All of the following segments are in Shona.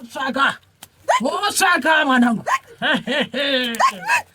Osaka, Osaka, mwanangu.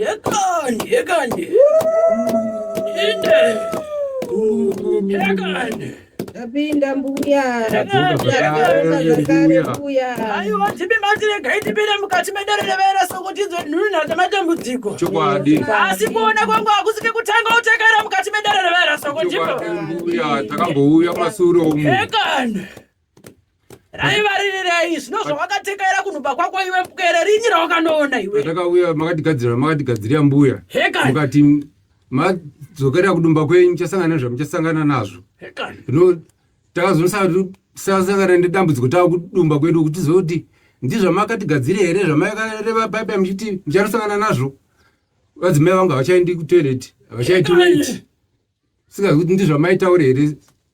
Yekani, yekani. Inde. Yekani. Ndapinda mbuya. Aiwa tipe matire gaitipira mukati medererevera soko tinzwe nhunhu dzamatambudziko. Chokwadi. Asi kuona kwangu hakusike kutanga utekera mukati medererevera soko ndipo. Chokwadi mbuya takambouya masuro umu. Yekani. raivaririrei zvino zvawakatekaira kunhuba kwako iwe pwere rinyi rawakanoona iwe takauya makatigadzirira makatigadzirira mbuya mukati madzokera kudumba kwenyu muchasangana nezva muchasangana nazvo zvino takazosasangana nedambudziko tava kudumba kwedu kuti zoti ndizvamakatigadziria here zvamaikareva baibai muchiti muchanosangana nazvo vadzimai vangu havachaendi kutoilet havachaitoilet singazikuti ndizvamaitaure here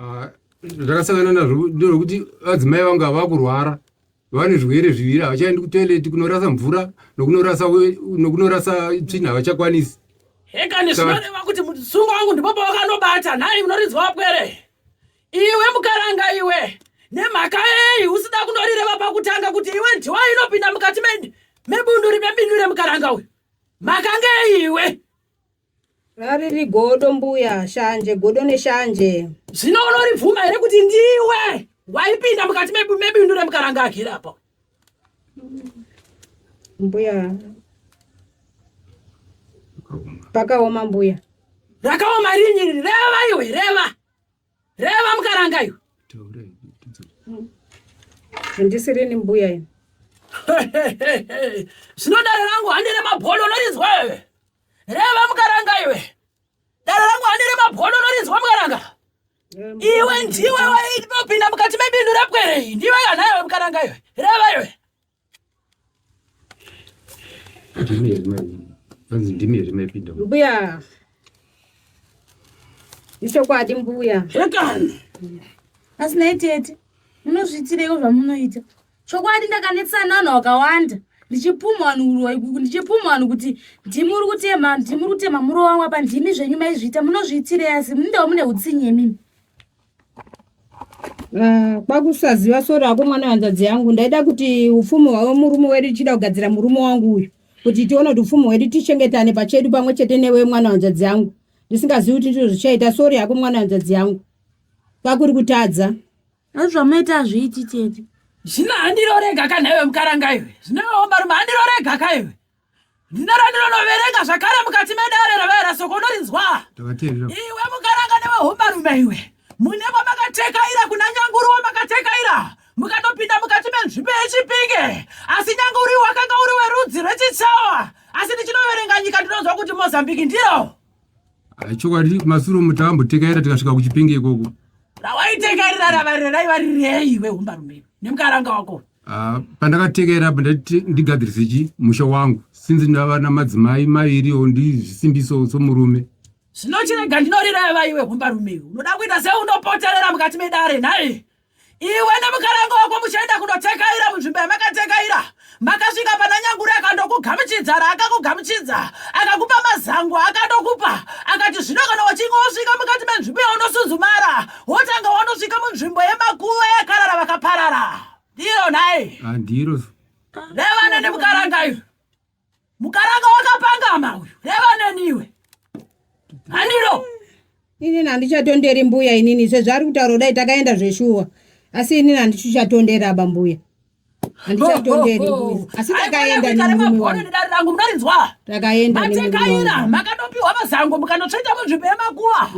Ah, zvakasangana nazvo ndezvekuti vadzimai vangu havakurwara vane zvirwere zviviri havachaendi kutoileti kunorasa mvura nokunorasa tsvina havachakwanisi hekani zvinoreva kuti musungo wangu ndipo pawakanobata nhai munorinzwa wapwere iwe mukaranga iwe nemhaka yei usida kunorireva pakutanga kuti iwe ndiwa inopinda mukati mebunduri mebindu remukaranga uyu mhaka ngeiwe rariri godo mbuya shanje godo neshanje zvino unoribvuma here kuti ndiwe waipinda mukati mebindu remukaranga agere apa mbuya pakaoma mbuya rakaoma rinyi reva iwe reva Reva mukaranga iyo. Handisiri ni mbuya ini. Zvino dare rangu handiri mabholo unorinzwa iwe. Reva mukaranga iwe. Dare rangu handiri mabholo unorinzwa mukaranga. Iwe ndiwe wainopinda mukati mebindu repwere iyi. Ndiwe kana iwe mukaranga iwe. Reva iwe. mbuya ichokwadi mbuya zvekana asi nai tete munozviitireiko zvamunoita chokwadi ndakanetsana vanhu vakawanda ndichipumha vanhu uroi kuku ndichipumha vanhu kuti ndimi uri kutema ndimi uri kutema muro wangu apa ndimi zvenyu maizviita munozviitirei asi mundao mune utsinye mimi Ah, kwakusaziva sori ako mwana hanzvadzi yangu ndaida kuti upfumi hwavo murume wedu tichida kugadzira murume wangu uyu kuti tione kuti upfumi hwedu tichengetane pachedu pamwe chete newe mwana hanzvadzi yangu ndisingazivi kuti ndizvo zvichaita sori yako mwana hanzvadzi yangu kwakuri kutadza azvamaita azviiti tete zvino handirorega kanhaiwe mukarangaiwe zvinooma rume handirorega kaiwe Zina randinonoverenga zvakare mukati medare ravaera soko unorinzwa iwe mukaranga nevehombarume iwe mune kwamakatekaira kuna nyanguru wamakatekaira mukatopinda mukati menzvimbo yechipinge asi nyanguri wakanga uri werudzi rwechichawa asi ndichinoverenga nyika ndinonzwa kuti mozambiki ndiro Chokwadi masuro mutambo tekaira tikasvika kuchipinge ikoko. Rawaitekerera ravarire raiva rirei iwe humbarume nemukaranga wako. Ah, pandakatekerera apa ndati ndigadzirise chi musha wangu since ndava namadzimai maviri o ndizvisimbiso somurume. Zvinochirega ndinorira iwe humbarume. Unoda kuita seunopoterera mukati medare nhai? iwe nemukaranga wako muchaenda kunotekaira munzvimbo yamakatekaira makasvika pana nyanguri akandokugamuchidza raakakugamuchidza akakupa mazango akandokupa akati zvino kana wachinge wosvika mukati menzvimbo yaunosuzumara wotanga wanosvika munzvimbo yemakuva yakarara vakaparara ndiro nhai andiro ah, nevana nemukaranga iyo Mukaranga wakapangama uyu. Reva neniwe. Handiro. Inini handichatonderi mbuya inini sezvaari kutaura kudai takaenda zveshuwa. Asi inini handichatonderi aba mbuya. Handichatonderi oh, oh, oh. mbuya. Asi takaenda nemurume wangu. Rangu munorinzwa. Takaenda nemurume wangu. Matekaira makanopiwa mazango mukanotsveta muzvipe makuva.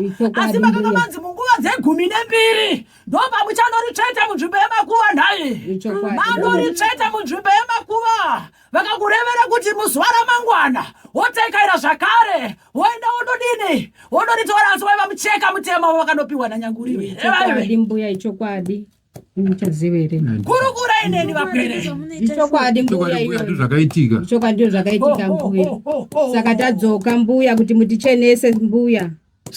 Asi makanga manzi munguva dzegumi nembiri. Ndopamuchanoricheta munzvimbo yemakuva nhai. Manoritsveta munzvimbo yemakuva. vakakurevera kuti muzuva ramangwana wotaikaira zvakare woenda wododini wodoritora asi waiva mucheka mutema wavakanopiwa nanyanguriveevaivedi mbuya ichokwadi muchazivere kurukura ineni vapere ichokwadi mbuyaichokwadizvakaitika ichokwadi ndozvakaitika mbuya saka tadzoka mbuya kuti mutichenese mbuya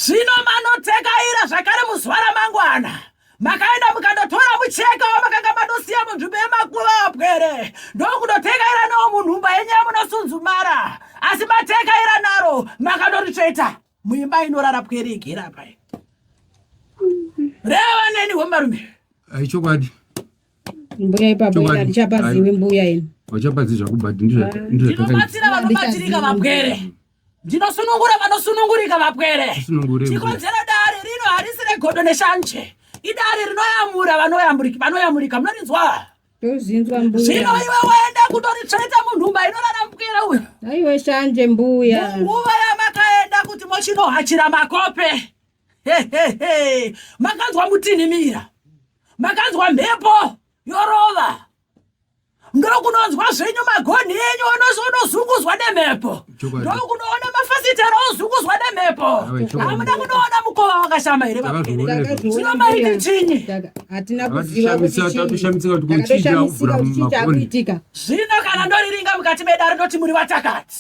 Zvino manodzekaira zvakare muzuva ramangwana makaenda mukandotora mucheka wamakanga manosiya munzvimbo yemakuva apwere ndokunotekaira nawo munhumba yenyu yamunosunzumara asi matekaira naro makandoritsveta muimba inorara pwere igera pai reva neni hwemarume aichokwadi mbuya ipapo ndichapaziwi mbuya ini vachapadzi zvakubhati ndizvatinobatsira vanobatsirika vapwere Ndinosunungura vanosunungurika vapwere. Chikonzero dare rino harisi regodo neshanje. Idare rinoyamura vanoyamurika vanoyamurika munorinzwa. Tozinzwa mbuya. Zvino iwe waenda kutoritsveta munhumba inorara mupwere uyo. Aiwe shanje mbuya. Nguva yamakaenda kuti mochinohachira makope. He he he. Makanzwa mutinhimira. Makanzwa mhepo yorova. ndokunonzwa zvenyu magonhi enyu onozungudzwa nemhepo ndokunoona mafasitera ozungudzwa nemhepo hamuda kunoona mukova wakashama here vaeeaiti chinyi zvino kana ndoriringa mukati medare ndoti muri vatakati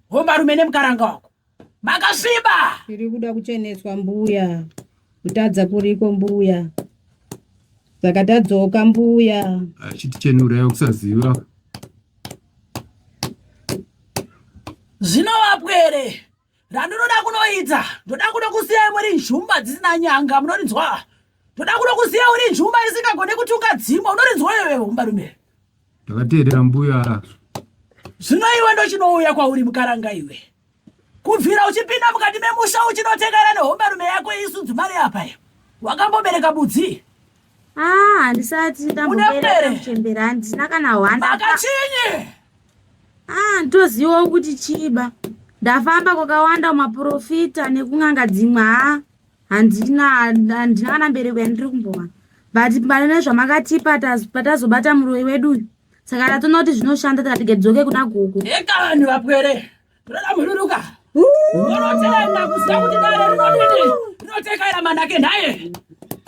Homarume nemukaranga wako makasviba. Tiri kuda kucheneswa mbuya, kutadza kuriko mbuya, saka tadzoka mbuya. Achitichenurayo kusaziva zvinova pwere randinoda kunoita ndoda kuda kusiya imwe ri nzhumba dzisina nyanga munorinzwa ndoda kuda kusiya uri nzhumba isingagone kutunga dzimwe unorinzwa iwewe umbarume Ndakateerera mbuya arazvo. Zvino iwe ndochinouya kwauri mukaranga iwe. Kubvira uchipinda mukati memusha uchinotekana nehombarume yako isu dzimari apa. Wakambobereka budzi. Ah, handisati ndambobereka kuchembera handina kana hwanda. Makachinyi? Ah, ndoziva kuti chiba. Ndafamba kwakawanda maprofita nekun'anga dzimwe ha. handina handina kana mbereko yandiri kumbowana but pane nezvamakatipa patazobata muroyi wedu uyu saka tatona kuti zvinoshanda tikati gedzoke kuna gogo eka vanhu vapwere toda mururuka unotenda kuziva kuti dare rinodini rinotekaira manake nhaye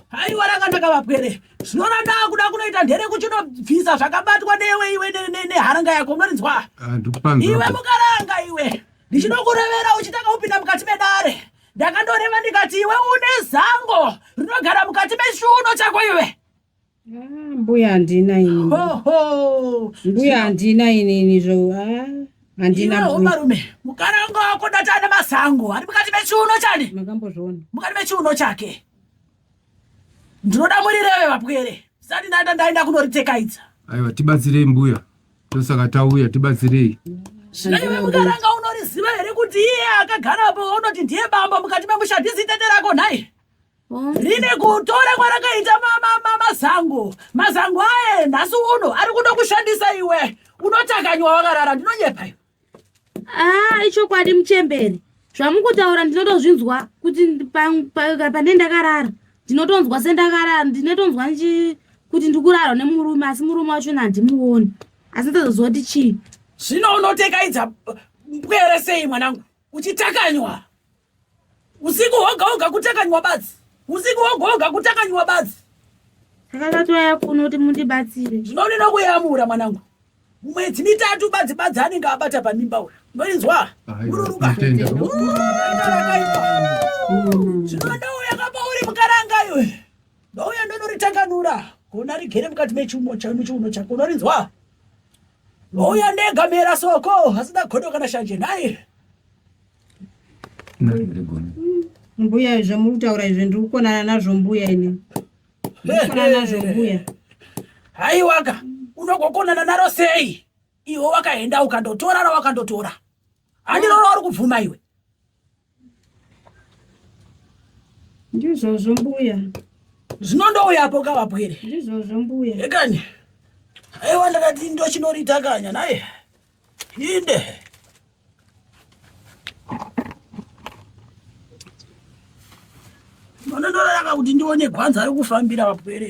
haiwa rakanaka vapwere zvinona ndaa kuda kunoita ndere kuchinobvisa zvakabatwa newe iwe neharanga yako unorinzwa iwe mukaranga iwe ndichinokurevera uchitanga kupinda mukati medare ndakandoreva ndikati iwe une zango rinogara mukati mechiuno chako iwe ah, mbuya handina ini mbuya handina inini zvo ah, handina marume mukana wanga wako ndati ane mazango ari mukati mechiuno chani makambozviona mukati mechiuno chake ndinoda murireve vapwere zisati ndaenda ndaenda kunoritekaidza aiwa tibatsirei mbuya tosaka tauya tibatsirei zvaive mukaranga unoriziva here kuti iye akagarapo unoti ndiye bamba mukati memusha ndizitete rako nhai rine kutora kwarakaita mazango mazango aye nhasi uno ari kuda kushandisa iwe unotakanywa wakarara ndinonyepa iwe aa ah, ichokwadi muchembere zvamukutaura ndinotozvinzwa kuti pane ndakarara ndinotonzwa sendakarara ndinotonzwa kuti ndikurarwa nemurume asi murume wacho nandimuoni asi ndozoziva kuti chii zvino unotekaidza pwere sei mwanangu kuchitakanywa usiku hoga hoga kutakanywa badzi usiku hoga hoga kutakanywa badzi ndakatouya kuno kuti mundibatsire ndinonena kuyamura mwanangu mwedzi mitatu badzi badzi anenge abata pamimba uya ndoinzwa ururuka rakaipa zvinoda uya kapa uri mukaranga iwe ndouya ndonoritanganura kuona rigere mukati mechiuno chiuno chako unorinzwa ndouya ndega mera soko hasina godo kana shanje nhai mbuya izvo muri kutaura izvo ndiri kukonana nazvo mbuya ini ndikukonana nazvo mbuya haiwaka unogokonana naro sei iwe wakaenda ukandotora rawakandotora handiroro wari kubvuma iwe Ndizvozvo mbuya. Zvinondouya apo kavapwere. Ndizvozvo mbuya. Ekani. Aiwa ndakati ndochinoriita kanya naye. Inde. Ndonondoraka kuti ndione gwanza rekufambira vapwere.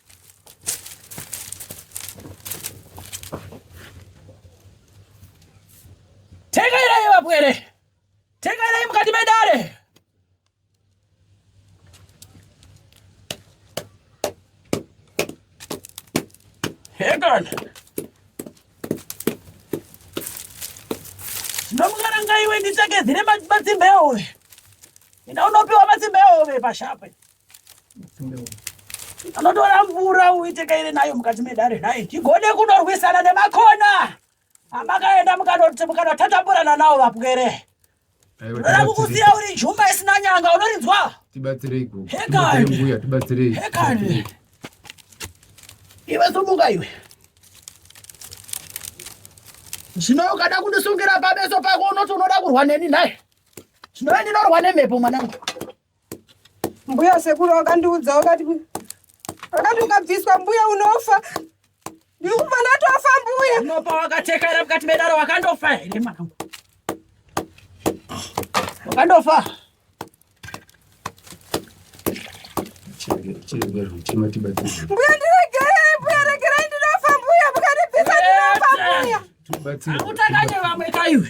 Tegairai vapwere, tegairai mukati medare. Hegan ndomukaranga iwe nditsvake dzine matsimba ehove, enda unopiwa matsimba ehove pashape. anotora mvura uite kaire nayo mukati medare nhai tigone kunorwisana nemakona amakaenda mukanotatamburana nawo vapwere unoda kukusiya uri juma isina nyanga unorinzwa tibatsireihekani iwe sumuka iwe zvino ukada kundisungira pameso pako unoti unoda kurwa neni nhai zvino ndinorwa nemhepo mwanangu Mbuya sekuru wakandiudza wakati wakati ukabviswa mbuya unofa. Ndiri kubva ndatofa mbuya. Unopa wakatekera mukati medaro wakandofa here mwana wangu? Wakandofa. Mbuya ndiregerei mbuya regerai ndinofa mbuya mukandibvisa ndinofa mbuya. Akutanganye vamwe kaiwe.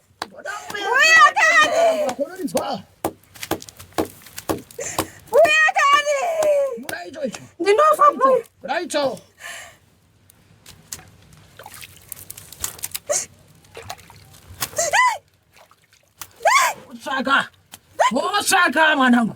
Osaka, Osaka mwanangu.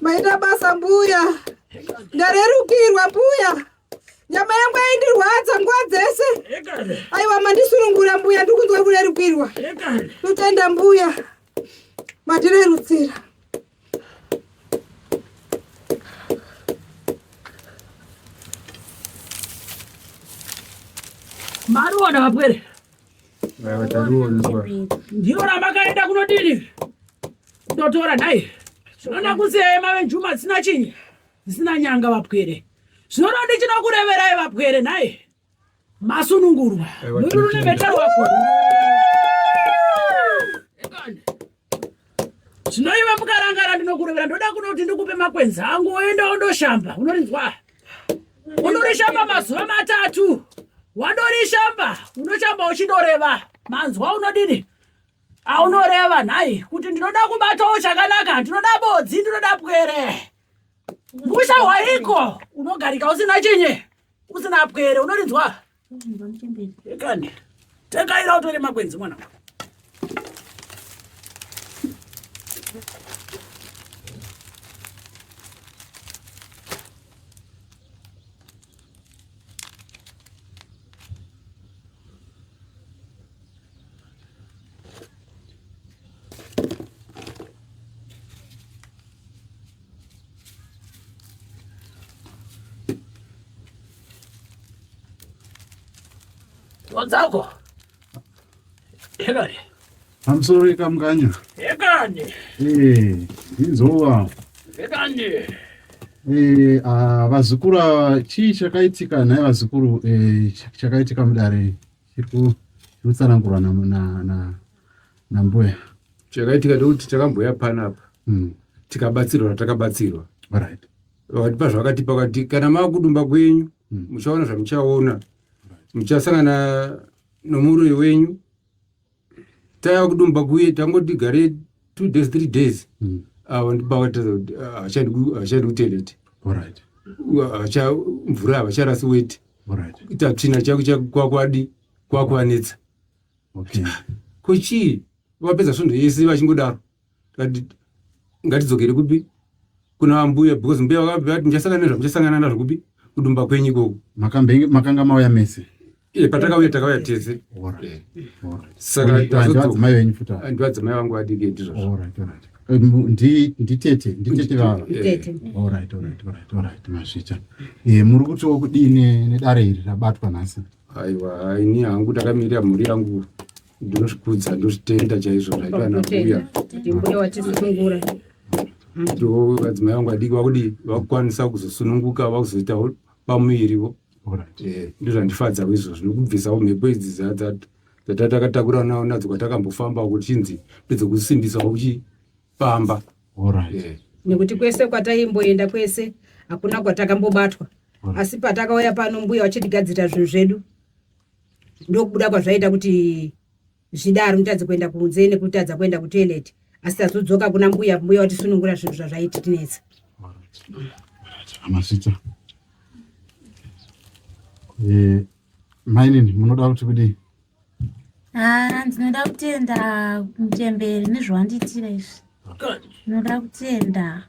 Maita basa mbuya, ndarerukirwa mbuya, nyama yangu yaindirwadza nguva dzese. Aiwa mandisurungura mbuya, ndiri kunzwa kurerukirwa. Totenda mbuya, matirerutsira. Maruona vapwere ndiyo ramakaenda kunodini kutotora nhai zvinoda kusiyai mave njuma dzisina chinyi dzisina nyanga vapwere zvinoda ndichinokureverai vapwere nhai masunungurwa nururumeta wako zvinoiva mukarangara ndinokurovera ndoda kuno kuti ndikupe makwenzi angu woenda wondoshamba unorinzwa unorishamba mazuva matatu wandorishamba unoshamba uchindoreva manzwa unodini aunoreva nhai kuti ndinoda kubatawo chakanaka ndinoda bodzi ndinoda pwere musha hwaiko unogarika usina chinye Usina pwere unorinzwa? Ekani. Tekaira utore makwenzi mwana. Gonzalo. Henry. I'm sorry kamkanya. Yekani. Eh, izova. Yekani. Eh, ah vazukuru chii chakaitika nhai vazukuru eh chakaitika mudare. Chiri kutsanangurwa nambuya. Chakaitika ndekuti takambouya panapa hmm. tikabatsirwa ratakabatsirwa. Right. Vakatipa zvakatipa vakati kana makudumba kwenyu hmm. muchaona zvamuchaona muchasangana nomuroyi wenyu taiva kudumba kuye tangoti gare two days three days mm. ah, avandibavataachadikutelete acha mvura havacharasi weti tatsvina chakuakwadi kwakuanetsa ko chii vapedza svondo yese vachingodaro ngatidzokere kupi kuna vambuya because mbuya vakabva vati ndichasangana nezva muchasangana nazvo kupi kudumba kwenyu ikoko makanga mauya mese iye patakauya takauya tese sakandivadzimai venyu futi ndivadzimai vangu vadiki ndizvozvo nditete nditete vava mazvita muri kutiwo kudii nedare iri rabatwa nhasi aiwa ini hangu takamirira mhuri yangu ndinozvikudza ndozvitenda chaizvo zvaitwa nakuya ndimbuya watisunungura ndo vadzimai vangu vadiki vakudi vakukwanisa kuzosununguka vakuzoita pamuvirivo eh, ndozvandifadza kuizvozvo nokubvisawo mhepo idzi dzatatakatakurana nao nadzo kwatakambofamba kuchinzi ndedzokusimbisawo uchipamba eh. nekuti kwese kwataimboenda kwese hakuna kwatakambobatwa asi patakauya pano mbuya vachitigadzira zvinhu zvedu ndokubuda kwazvaita kuti zvidaro nditadze kuenda kunze nekutadza kuenda kutoilet asi tazodzoka kuna mbuya mbuya watisunungura zvinhu zvazvaititinetsa amasita eh, mainini munoda kuti kudii ah, ndinoda kutenda mutemberi nezvawandiitira izvi ndinoda kutenda